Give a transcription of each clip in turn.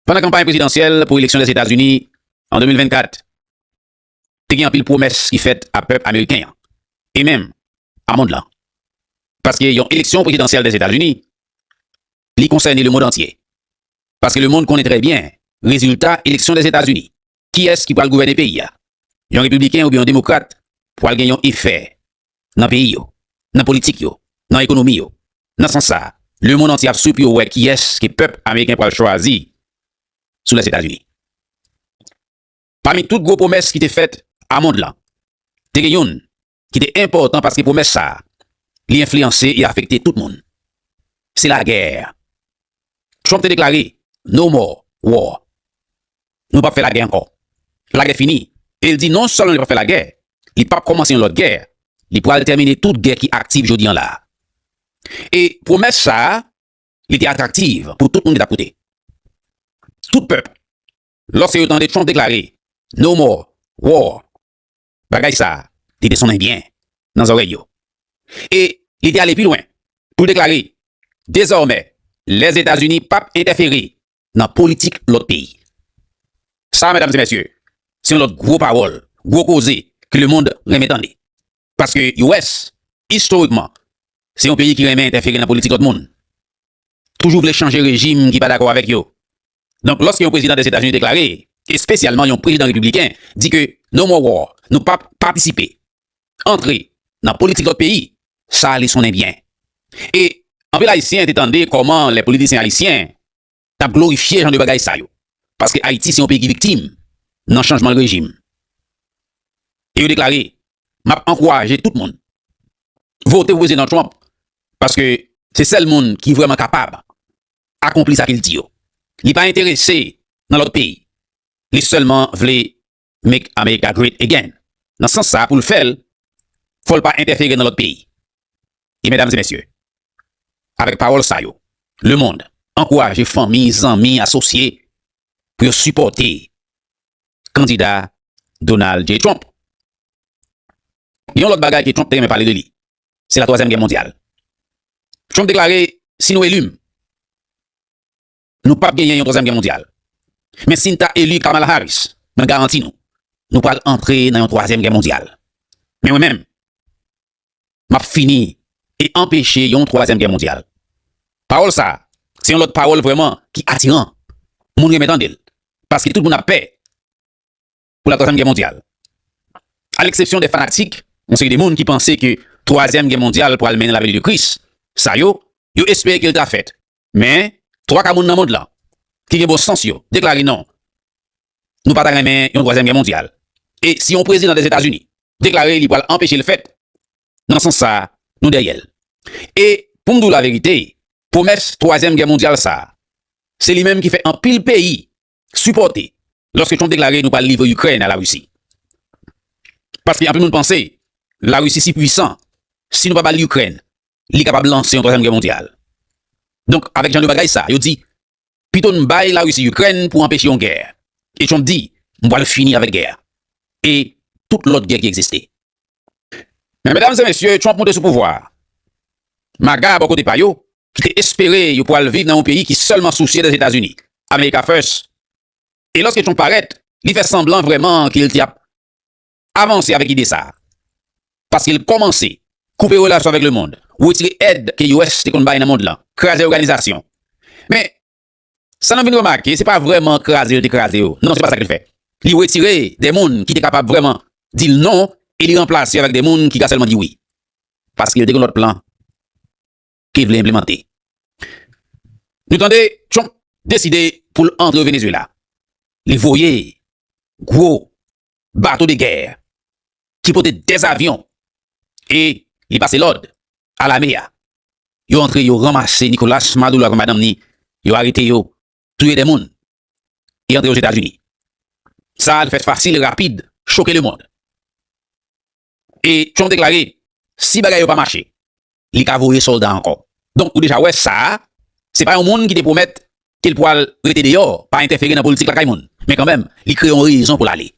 Pandan kanpay prezidansyèl pou eleksyon Lèzetazini an 2024, te gen anpil pwomès ki fèt a pèp ameriken an e menm a mond lan. Paske yon eleksyon prezidansyèl Lèzetazini, li konsène lemond antye. Paske lemond konnen trè byen rezilta eleksyon Lèzetazini, kiyès ki pral gouvène peyi a, yon repibliken oubyen yon demokrat, pral gen yon efè nan peyi yo, nan politik yo, nan ekonomi yo. Nan sans sa, lemonn antye ap swi pou yo wè kiyès ke pèp ameriken pral chwazi sou Lèzetazini. Pami tout gwo pwomès ki te fèt a mond lan, te gen youn ki te enpòtan paske pwomès sa li enfliyanse e afekte tout moun. Se lagè. Trump te deklare No more war, Nou pap fè lagè ankò, lagè fini, e l di non sèlman li pap fè lagè, li pap kòmanse yon lòt gè, li pral tèmine tout gè ki aktiv jodi an la a. E pwomès sa a, li te atraktiv pou tout moun ki t ap koute. Tout pèp, lòske yo tande Trump deklare No more war, Bagay sa a, li te sonnen byen nan zòrèy yo, e li te ale pi lwen pou l deklare, Dezòmè, Lèzetazini pap entèfere nan politik lòt peyi. Sa a, medam e mesye, se yon lòt gwo pawòl, gwo koze ke lemond renmen tande. Paske US, istorikman, se yon peyi ki renmen entèfere nan politik lòt moun, toujou vle chanje rejim ki pa dakò avèk yo, Donk lòske yon prezidan Dèzetazini deklare, espesyalman yon prezidan repibliken, di ke No more war, nou pap patisipe, antre, nan politik lòt peyi, sa ale sonnen byen. E anpil Ayisyen te tande kòman lè politisyen Ayisyen t ap glorifye jan de bagay sa yo, paske Ayiti se yon peyi ki viktim nan chanjman rejim. E yo deklare, M ap ankouraje tout moun vote pou Prezidan Trump paske se sèl moun ki vrèman kapab akonpli sa kel di yo li pa enterese nan lòt peyi li sèlman vle make America great again nan sans sa poul fèl fòl pa entèfere nan lòt peyi e mèdam e mèsye avèk pawòl sa yo le mond ankouraje fanmi zanmi asosye pou yo sipòte kandida Donald J Trump gen yon lòt bagay ke Trump te renmen pale de li Se la twazyèm gè mondyal. Trump deklare si nou eli m, nou pap genyen yon twazyèm gè mondyal. Men si n ta eli Kamala Harris, mwen garanti nou, nou pral antre nan yon twazyèm gè mondyal. Men mwen menm, map fini e anpeche yon twazyèm gè mondyal. Pawòl sa, se yon lòt pawòl vrèman ki atiran. Moun renmen tande l, paske tout moun ap pè. pou la Twazyèm Gè Mondyal. A leksepsyon de fanatik, yon seri de moun ki panse ke Twazyèm Gè Mondyal pral mennen la veni de Kris, sa yo, yo espere ke l ta fèt. Men, twa ka moun nan mond lan, ki gen bon sans yo, deklare non, nou pa ta renmen yon Twazyèm Gè Mondyal. E si yon prezidan Dèzetazini deklare li pral anpeche l fèt, nan sans sa, nou dèyè l. E, pou m di w laverite, pwomès Twazyèm Gè Mondyal sa, se li menm ki fè anpil peyi sipòte lòske Trump deklare nou pral livre Ikrèn a la Risi. Paske anpil moun panse la Risi si pwisan, si nou pa bal Ikrèn, li kapab lanse yon twazyèm gè mondyal. Donk avèk jan de bagay sa, yo di pito n bay la Risi Ikrèn pou anpeche yon gè. E Trump di m pral fini avèk gè a e tout lòt gè ki egziste. Men medam e mesye, Trump moute sou pouvwa a. MAGA bò kote pa yo, ki te espere yo pwal viv nan yon peyi ki sèlman sousye de Etazini, America First, e lòske Trump parèt, li fè sanblan vrèman ke l te ap avanse avèk ide sa a, paske l kòmanse koupe relasyon avèk lemond, wetire èd ke US te konn bay nan mond lan, kraze òganizasyon. Men, Sa nou vin remake, se pa vrèman kraze l te kraze yo. Non, se pa sa ke l fè. Li retire de moun ki te kapab vrèman di l non e li ranplase yo avèk de moun ki ka sèlman di wi. Paske l te gen lòt plan ke l vle enplemante. Nou tande Trump deside pou l antre Venezuela. Li voye gwo bato de gè ki pote 2 zavyon e li pase lòd a lame a. Yo antre yo ranmase Nicolas Maduro avèk madanm ni, yo arete yo, touye 2 moun e antre yo Ozetazini. Sa a te fèt fasil e rapid, choke lemond. E Trump deklare si bagay yo pa mache, li ka voye sòlda ankò. Donk ou deja wè sa a se pa yon moun ki te pwomèt ke l pwal rete deyò, pa entèfere nan politik lakay moun. Men kanmenm, li kreye yon rezon pou l ale.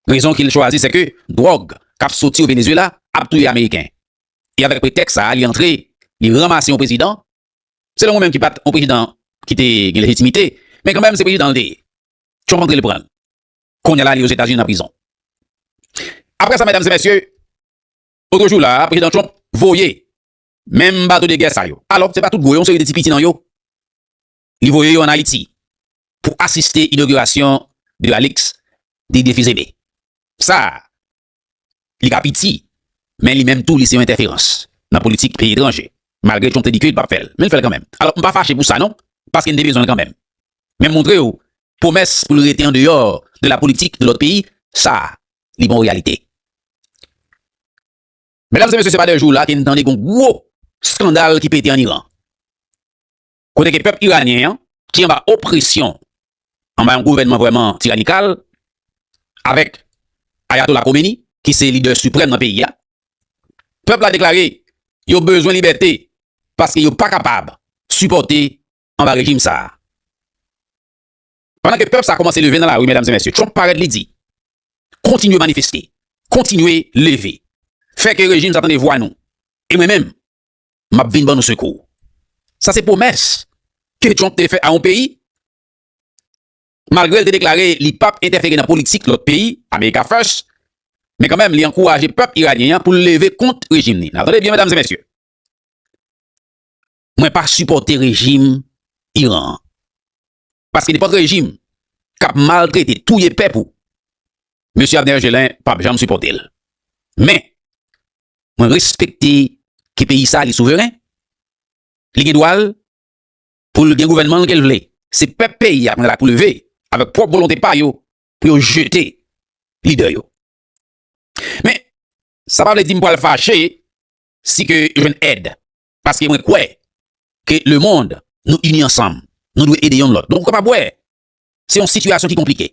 Rezon ki l chwazi se ke dwòg k ap soti o Venezuela ap touye Ameriken. E avèk pretèks sa a li antre, li ranmase yon prezidan, selon mwen menm ki pa t yon prezidan ki te gen lejitimite, men kanmenm se prezidan l te ye. Trump antre l pran l. Kounye la li Ozetazini nan prizon. Apre sa medam e mesye, otro jou la a, prezidan Trump voye menm bato de gè sa yo. Alò, se pa tout gwo yo, yon seri de ti piti nan yo, li voye yo an Ayiti pou asiste inogirasyon de Alix Didier Fils-Aimé. Sa a, Li ka piti, men li menm tou li se yon entèferans nan politik peyi etranje. Malgre Trump te di ke li pap fèl, men li fèl kanmenm. Alò m pa fache pou sa non, paske n te bezwen l kanmenm. Men m montre w pwomès pou l rete an deyò de la politik de lòt peyi, sa li pa yon reyalite. Medam e mesye se pa de jou la ke n tande gon gwo skandal ki pete an Iran. kote ke pèp iranyen an, ki anba opresyon, anba yon gouvènman vrèman tiranikal, avèk Ayatola Khomeni, ki se lidè siprèm nan peyi a, pèp la deklare yo bezwen libète, paske yo pa kapab sipòte anba rejim sa a. Pandan ke pèp sa a kòmanse leve nan lari, medam e mesye, Trump parèt li di, kontinye manifeste, kontinye leve, fè ke rejim sa a tande vwa nou, e mwen menm, m ap vin ban nou sekou. Sa se pwomès ke Trump te fè a yon peyi, malgre l te deklare li pap entèfere nan politik lòt peyi, America First, men kanmenm li ankouraje pèp iranyen an pou l leve kont rejim ni. N ap tande byen medam e mesye. Mwen pa sipòte rejim Iran an. paske nenpòt rejim k ap maltrete, touye pèp ou, Mesye Abner Gelin p ap janm sipòte l. Men, mwen respekte ke peyi sa li souveren, li gen dwa l pou l gen gouvènman l ke l vle. Se pèp peyi a pral la pou leve avèk pwòp volonte pa yo pou yo jete lidè yo. Men, sa pa vle di m pral fache si ke yo jwenn èd Paske mwen kwè ke le mond nou ini ansanm, nou dwe ede yonn lòt. Donk ou kapab wè, se yon sitiyasyon ki konplike.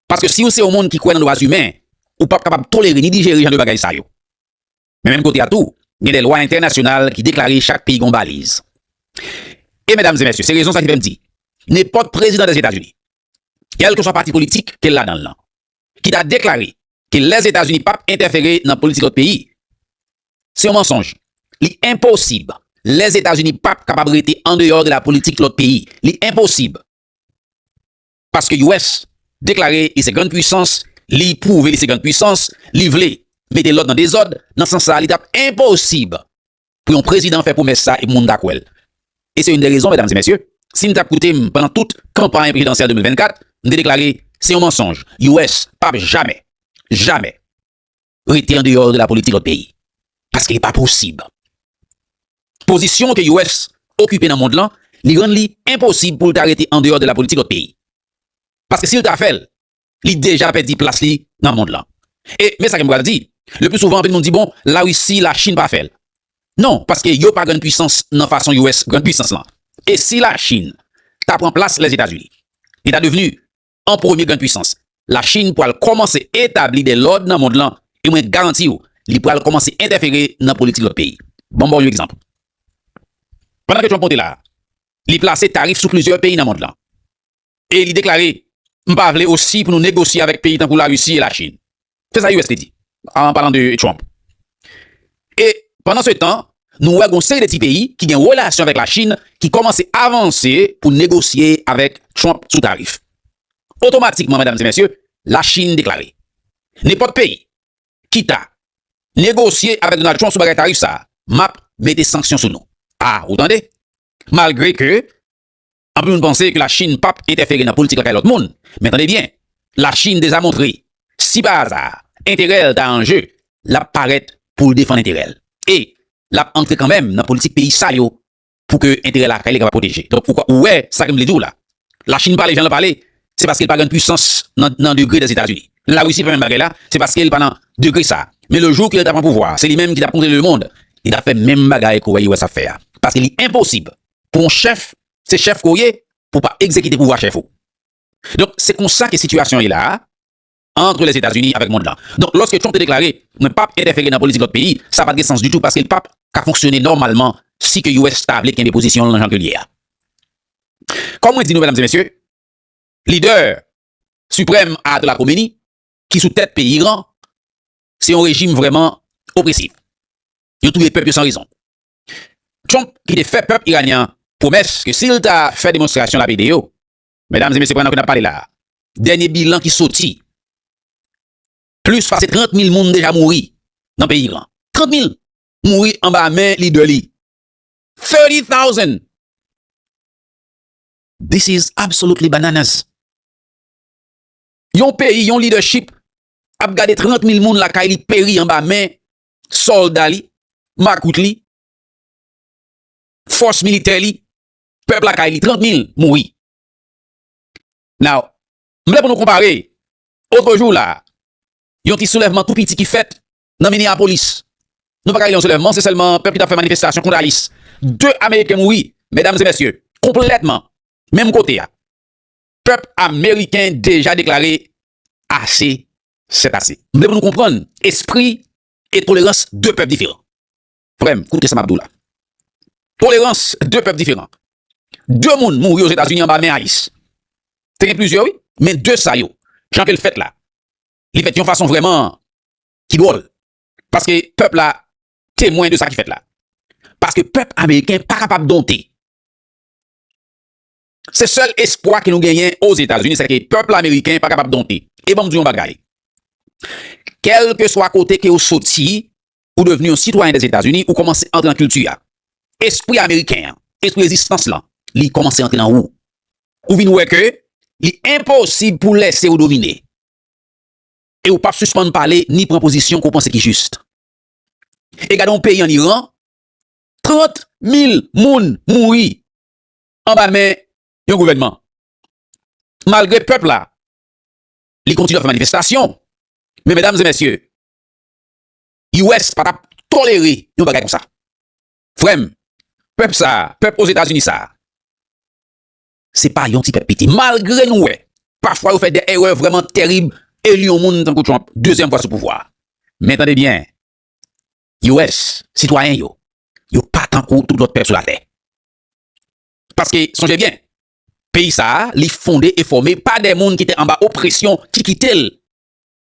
Paske si ou se yon moun ki kwè nan dwa zimen, ou pap kapab tolere ni dijere jan de bagay sa yo. Men menm kote a tou, gen de lwa entènasyonal ki deklare chak peyi gen yon baliz. E medam e mesye, se rezon sa ki fè m di, nenpòt prezidan Dèzetazini, kèlkeswa pati politik ke l ladan l lan, ki ta deklare ke Lèzetazini pa p entèfere nan politik lòt peyi, se yon mansonj. Li enposib. Lèzetazini pa p kapab rete andeyò de la politik lòt peyi. Li enposib. Paske US deklare li se grann puisans, li pwouve li se grann puisans, li vle mete lòd nan dezòd, nan sans sa li ta p enposib pou yon prezidan fè pwomès sa epi moun ta kwèl. E se youn de rezon medam e mesye, si n tap koute m pandan tout kanpay prezidansyèl 2024, m te deklare se yon mansonj, US pap jamè, jamè rete an deyò de la politik lòt peyi. Paske li pa posib. Pozisyon ke US okipe nan mond lan, li rann li enposib pou l ta rete an deyò de la politik lòt peyi. Paske si l ta fè l, li deja pèdi plas li nan mond lan. E men sa ke m pral di, le pli souvan anpil moun di bon la Russie, la Chine pa fè l. Non, paske yo pa grann pwisans nan fason US grann pwisans lan. E si la Chine ta pran plas Lèzetazini, li ta devni an premye grann pwisans. La Chine pral kòmanse etabli de lòd nan mond lan e mwen garanti w li pral kòmanse entèfere nan politik lòt peyi. Ban m ba w yon egzanp. Pandan ke Trump monte la, li plase tarif sou plizyè peyi nan mond lan. e li deklare, M pa vle osi pou nou negosye avèk peyi tankou Larisi e Lachin. Se sa US te di, an palan de Trump. E, pandansetan, nou wè gen yon seri de ti peyi ki gen relasyon avèk Lachin ki kòmanse avanse pou negosye avèk Trump sou tarif. Otomatikman, medam e mesye, Lachin deklare, Nenpòt peyi ki ta negosye avèk Donald Trump sou bagay tarif sa a, m ap mete sanksyon sou nou. A, ou tande? Malgre ke Anpil moun panse ke Lachin pap entèfere nan politik lakay lòt moun, men tande byen, Lachin deja montre, si pa aza, enterè l ta an je, l ap parèt pou l defann enterè l. E, l ap antre kanmenm nan politik peyi sa yo pou ke enterè lakay li kapab pwoteje. Donk, ou wè sa ke m vle di w la. Lachin pale jan l pale, se paske l pa grann pwisans nan degre Dèzetazini. Lè Larisi fè menm bagay la, se paske l pa nan degre sa. Men le jou ke l ta pran pouvwa a, se li menm ki t ap kontwole lemonn, li t ap fè menm bagay ke w wè US ap fè a. Paske li enposib pou on chèf se chèf ke w ye pou w pa egzekite pouvwa chèf ou. Donk se konsa ke sitiyasyon ye la a antre Lèzetazini avèk mond lan. Donk lòske Trump te deklare mwen pap entèfere nan politik lòt peyi, sa pat gen sans ditou paske li pap ka fonksyone nòmalman si ke US ta vle kenbe pozisyon l nan jan ke l ye a. Kòm mwen di nou medam e mesye, lidè siprèm Ayatollah Khomeini ki sou tèt peyi Iran se yon rejim vrèman opresif. Yo touye pèp yo san rezon. Trump ki te fè pèp iranyen an pwomès ke si l ta fè demonstrasyon l ap ede yo. Medam e mesye pandan ke n ap pale la a, dènye bilan ki soti, plis pase 30 mil moun deja mouri nan peyi Iran. 30 mil mouri anba men lidè li. Thirty thousand! This is absolutely bananas! Yon peyi, yon lidèchip ap gade 30 mil moun lakay li peri anba men sòlda li, makout li, fòs militè li, pèp lakay li, 30 mil mouri. Now, m vle pou nou konpare, otre jou la, yon ti soulèvman tou piti ki fèt nan Minneapolis. Nou pa ka rele yon soulèvman, se sèlman pèp ki t ap fè manifestasyon kont ICE. 2 ameriken mouri, medam e mesye, konplètman, menm kote a. Pèp ameriken deja deklare ase sèt ase. M vle pou nou konprann espri e tolerans 2 pèp diferan. Frè m, koute sa m ap di w la. Tolerans 2 pèp diferan. 2 moun mouri Ozetazini anba men ICE. Te gen plizyè wi, men 2 sa yo, jan ke l fèt la, li fèt yon fason vrèman ki dwòl. Paske pèp la temwen de sa ki fèt la. Paske pèp ameriken pa kapab donte. Se sèl espwa ke nou genyen Ozetazini sè ke pèp ameriken pa kapab donte. E banm di w yon bagay, kèlkeswa kote ke w soti, ou devni yon sitwayen Dèzetazini, ou kòmanse antre nan kilti a. Espri ameriken an, espri rezistans lan, li kòmanse antre nan ou. Ou vin wè ke li enposib pou w lèse yo domine. E ou pap sispann pale ni pran pozisyon ke w panse ki jis. E gade yon peyi an Iran, 30 mil moun mouri. anba men yon gouvènman. Malgre pèp la, li kontinye ap fè manifestasyon. Men medam e mesye, US pa t ap tolere yon bagay konsa. Frè m, pèp sa, pèp Ozetazini sa, se pa yon ti pèp piti. Malgre nou wè, pafwa yo fè de erè vrèman terib, eli yon moun tankou Trump dezyèm fwa sou pouvwa. Men tande byen, US, sitwayen yo, yo pa tankou tout lòt pèp sou latè. Paske sonje byen, peyi sa a li fonde e fòme pa de moun ki te anba opresyon ki kite l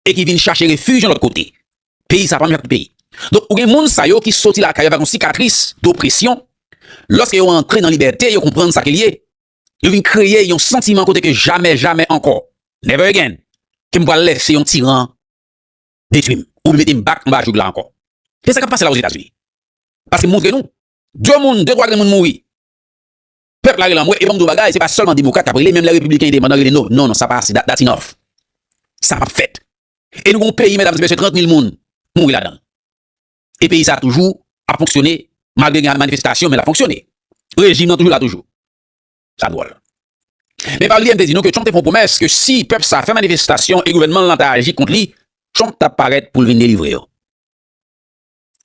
e ki vin chache refij yon lòt kote. Peyi sa a pa menm jan ak tout peyi. Donk ou gen moun sa yo ki soti lakay yo avèk yon sikatris dopresyon, lòske yo antre nan libète yo konprann sa ke l ye, yo vin kreye yon santiman kote ke jamè, jamè ankò, never again, ke m pral lèse yon tiran detwi m oubyen mete m bak anba joug la ankò. Se sa k ap pase la Ozetazini. Paske m montre nou, 2 moun, 2 twa grenmoun mouri. Pèp la rele anmwe e banm di w bagay se pa sèlman demokrat k ap rele menm lè repibliken endepandan rele no non non sa pa ase dat enough sa pap fèt e nou gen yon peyi medam e mesye 30 mil moun mouri ladan l e peyi sa toujou ap fonksyone malgre gen manifestasyon men l ap fonksyone rejim nan toujou la toujou sa dwòl men pa bliye m te di nou ke Trump te fè yon pwomès ke si pèp sa fè manifestasyon e gouvènman l lan ta aji kont li Trump t ap parèt pou l vin delivre yo.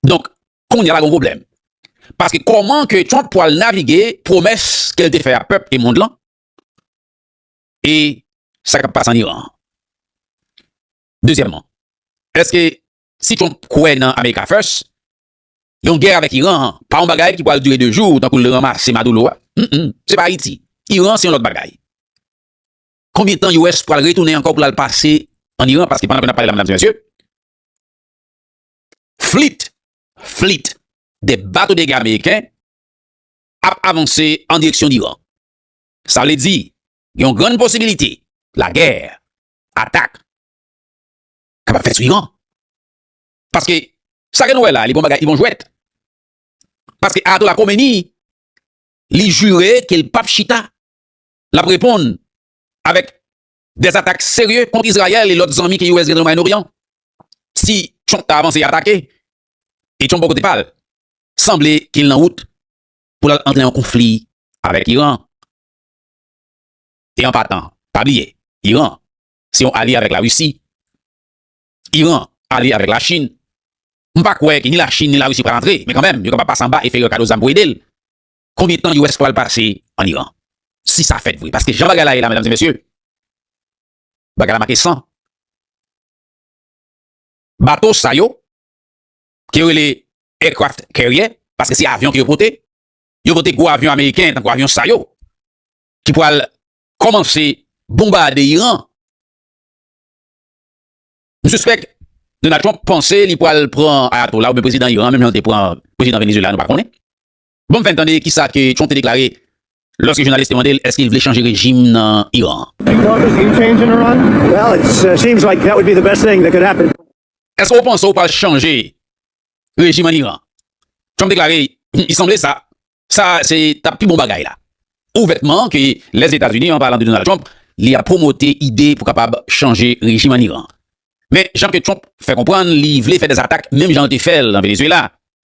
Donk, kounye a pa gen yon pwoblèm. Paske kòman ke Trump pwal navige pwomès ke l te fè a pèp e mond lan e sa k ap pase an Iran an? Dezyèmman, èske si Trump kwè nan America First, yon gè avèk Iran an pa yon bagay ki pwal dire de jou tankou l ranmase Maduro a? Mh, se pa Ayiti. Iran se yon lòt bagay. Konbyen tan US pwal retounen ankò pou l al pase an Iran? Paske pandan ke n ap pale la medam e mesye, flit, flit, de bato de gè ameriken ap avanse an direksyon Livan. Sa vle di gen yon grann posibilite lagè, atak, kapab fèt sou Iran. Paske sa ke nou wè la li pa yon bagay, li pa yon jwèt. Paske Ayatola Komeni li jire ke li pap chita, lap reponn avèk Des atak serye kont Izrayèl e lòt zanmi ke US gen nan Mwayen Oryan. Si Trump ta avanse atake, e Trump bò kote pa l, sanble ke l nan wout pou l al antre nan konfli avèk Iran. E an patan, pa bliye, Iran se yon alye avèk Larisi. Iran alye avèk Lachin. M pa kwè ke ni Lachin ni Larisi pral antre, men kanmenm, yo kapab pase anba e fè Iran kado zam pou ede l. Konbyen tan US pral pase an Iran si sa fèt vre paske jan bagay la ye la medam e mesye bagay la make san bato sa yo ke yo rele aircraft carrier paske se avyon ke yo pote yo pote gwo avyon ameriken tankou avyon sa yo ki pral kòmanse bonbade Iran m sispèk Donald Trump panse li pral pran ayatola oubyen prezidan Iran menm jan li te pran prezidan Venezuela nou pa konnen. Bon fèn tande kisa ke Trump te deklare lòske jounalis te mandel èske li vle chanje rejim nan Iran an. Èske ou panse ou pral chanje rejim an Iran? Trump deklare li sanble sa sa se tap pi bon bagay la ouvètman ke Lèzetazini an palan de Donald Trump li ap pwomote ide pou kapab chanje rejim an Iran men jan ke Trump fè konprann li vle fè dèzatak menm jan l te fèl nan Venezuela.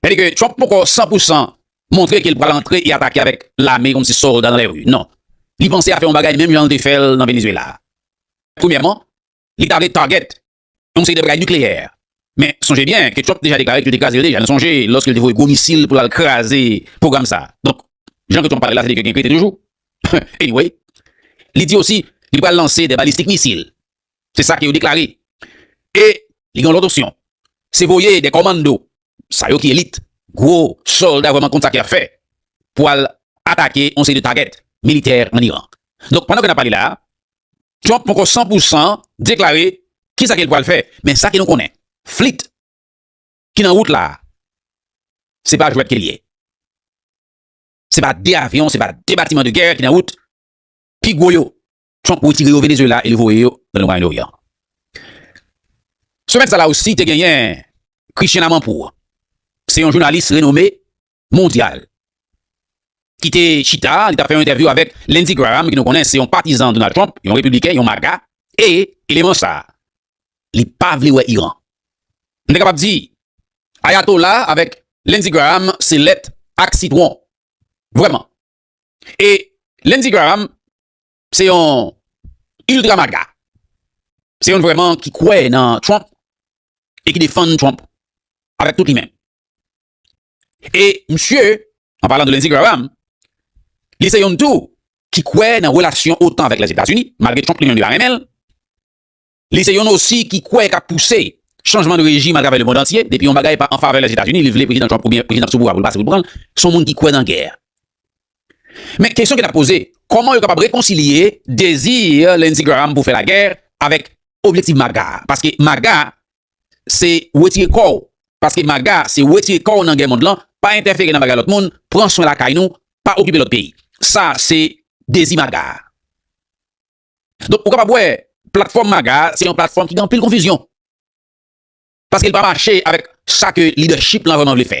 Sa vle di ke Trump poko 100 pou 100 montre ke li pral antre e atake avèk lame yon ti sòlda nan lèri. Non. Li panse a fè yon bagay menm jan li te fè l nan Venezuela. Premyèman, li ta vle target yon seri de bagay nikleyè. Men, sonje byen ke Trump te deja deklare ke yo te kraze l deja. Nou sonje lòske li te voye gwo misil pou l al kraze pwogram sa. Donk, jan ke Trump pale la, sa vle di ke gen krete toujou. Anyway, li di osi li pral lanse de balistik misil. Se sa ke yo deklare. E li gen yon lòt opsyon. Se voye de kòmando, sa yo ki elit, gwo sòlda vrèman konn sa ke y ap fè, pou al atake yon seri de tagèt militè ann Iran. Donk, pandan ke n ap pale la a, Trump poko san pou san deklare ki sa ke l pral fè. Men sa ke nou konnen, flit ki nan wout la a, se pa jwèt ke l ye. Se pa de avyon, se pa de batiman de gè ki nan wout. Pi gwo yo, Trump retire yo Venezuela e li voye yo nan Moyen Orient. Semèn sa la osi te genyen Christian Amanpour, se yon jounalis renome mondyal ki te chita, li ta fè yon entèvyou avèk Lindsey Graham ki nou konnen se yon patizan Donald Trump, yon repibliken, yon maga e eleman sa li pa vle wè Iran. M te kapab di Ayatola avèk Lindsey Graham se lèt ak sitwon. Vrèman. E Lindsey Graham Se yon ultra maga. Se yon vreman ki kwe nan Trump e ki defann Trump avek tout li men. E msye, an palan de Lindsey Graham, li se yon tou ki kwe nan relasyon otan avek Lèzetazini, malgre Trump li men li pa renmen l. Li se yon osi ki kwè kap pouse chanjman de rejim atravè le mond antye. Depi yon bagay pa an favè Lèzetazini, li vle Prezidan Trump oubyen Prezidan k sou pouvwa a pou l pase pou l pran l, se yon moun ki kwè nan gè. Men kesyon ke n ap poze, kòman yo kapab rekonsilye dezi Lindsey Graham pou fè lagè avèk objektiv MAGA a? Paske MAGA se wetire kò w, paske MAGA se wetire kò w nan gè mond lan, pa entèfere nan bagay lòt moun, pran swen lakay nou, pa okipe lòt peyi. Sa se dezi MAGA a. Donk ou kapab wè platfòm MAGA a se yon platfòm ki gen anpil konfizyon. Paske li pa mache avèk sa ke lidèchip lan vrèman vle fè.